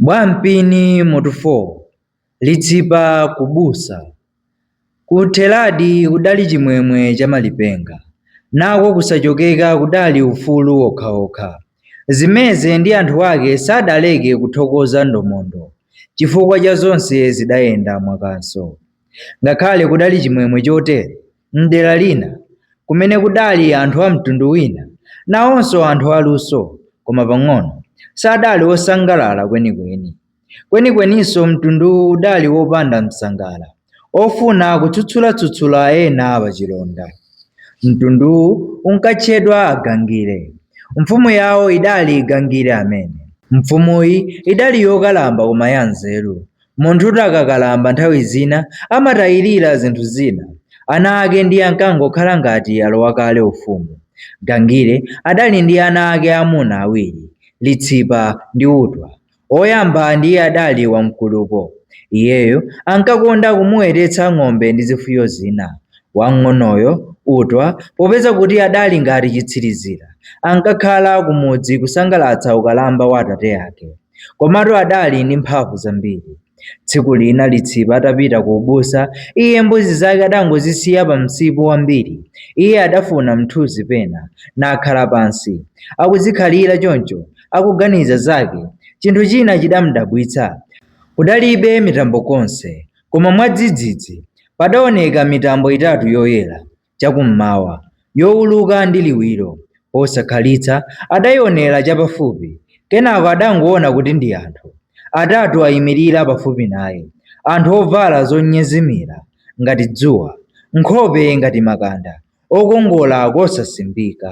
Bwampini mutu 4 Litsipa ku busa Kutheradi kudali chimwemwe cha malipenga, nako kusachokeka kudali ufulu wokhawokha. Zimeze ndi anthu ake sadaleke kuthokoza Ndomondo chifukwa cha zonse zidayenda mwakanso. Ngakhale kudali chimwemwe chotere, M'dera lina, kumene kudali anthu a mtundu wina, nawonso anthu aluso, koma pang'ono, sadali osangalala kwenikweni. Kwenikweninso mtunduwu udali wopanda msangala, ofuna kutsutsula-tsutsula ena apachilonda. Mtunduwu unkatchedwa Agangire. Mfumu yawo idali Gangire amene. Mfumuyi idali yokalamba koma yanzeru, Munthutu akakalamba nthawi zina amatayirira zinthu zina. Ana ake ndiye ankangokhala ngati alowa kale ufumu. Gangire adali ndi ana ake aamuna awiri, Litsipa ndi Utwa. Woyamba ndiye adali wamkulupo. Iyeyo ankakonda kumuwetetsa ng'ombe ndi zifuyo zina. Wamng'onoyo, Utwa, popeza kuti adali ngati chitsirizira, ankakhala kumudzi kusangalatsa ukalamba wa atate ake. Komatu adali ndi mphamvu zambiri. Tsiku lina Litsipa atapita ku ubusa, iye mbuzi zake adangozisiya pa msipu wambiri. Iye adafuna mthunzi pena, nakhala pansi. Akuzikhalira choncho, akuganiza zake, chinthu china chidamdabwitsa. Kudalibe mitambo konse, koma mwadzidzidzi, padaoneka mitambo itatu yoyera, chakum'mawa, youluka ndi liwiro. Posakhalitsa adaionera chapafupi, kenako adangoona kuti ndi anthu atatu aimirira pafupi naye, anthu ovala zonyezimira ngati dzuwa, nkhope ngati makanda, okongola kosasimbika.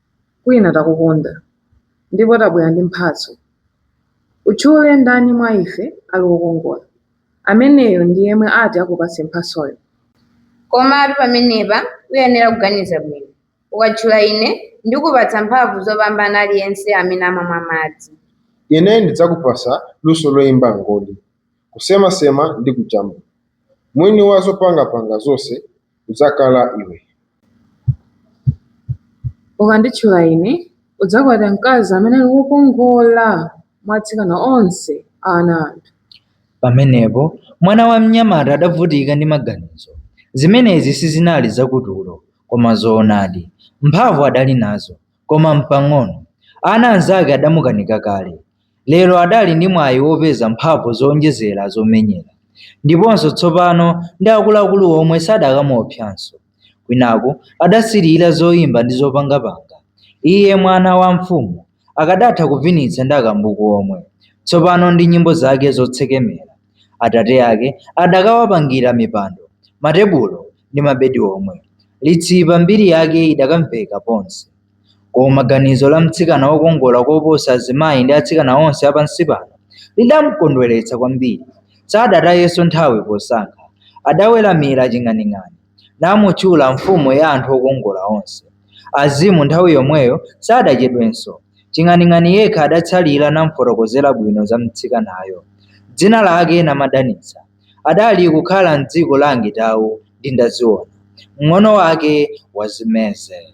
kwina takukonda ndipo tabwera ndi mphatso. Utchule ndani mwa ife ali wokongola? Ameneyo ndi yemwe ati akupatse mphatsoyo. Komatu pamenepa uyenera kuganiza bwino. Ukatchula ine, ndikupatsa mphamvu zopambana aliyense amene amamwa madzi. Ine ndidzakupatsa luso loimba mngoli. kusemasema ndi kujambula. Mwini wa zopangapanga zonse udzakhala iwe. Ukanditchula ine, udzakwata mkazi amene ali wokongola mwa atsikana onse a ana a anthu. Pamenepo mwana wa mnyamata adavutika ndi maganizo. Zimenezi sizinali zakutulo, koma zoonadi. Mphamvu adali nazo, koma m'pang'ono. Ana anzake adamukanika kale, lero adali ndi mwayi wopeza mphamvu zowonjezera zomenyera ndiponso tsopano, ndi akuluakulu omwe sadakamuopsanso. Kwinaku adasirira zoimba ndi zopangapanga. Iye mwana wa mfumu akadatha kuvinitsa ndi akambuku omwe tsopano ndi nyimbo zake zotsekemera. Atate ake adakawapangira mipando, matebulo ndi mabedi omwe. Litsipa mbiri yake idakamveka ponse. Koma ganizo la mtsikana wokongola koposa azimayi ndi atsikana onse apansi pano lidamkondweretsa kwambiri. Sadatayenso nthawi posankha, adaweramira ching'aning'ani. namutchula mfumu ya anthu okongola onse. Azimu nthawi yomweyo sadachedwenso. Ching'aning'ani yekha adatsalira namfotokozera bwino za mtsikanayo. Dzina lake Namadanitsa. Adali kukhala m'dziko la Angitau ndi Ndaziona, mng'ono wake wa Zimeze.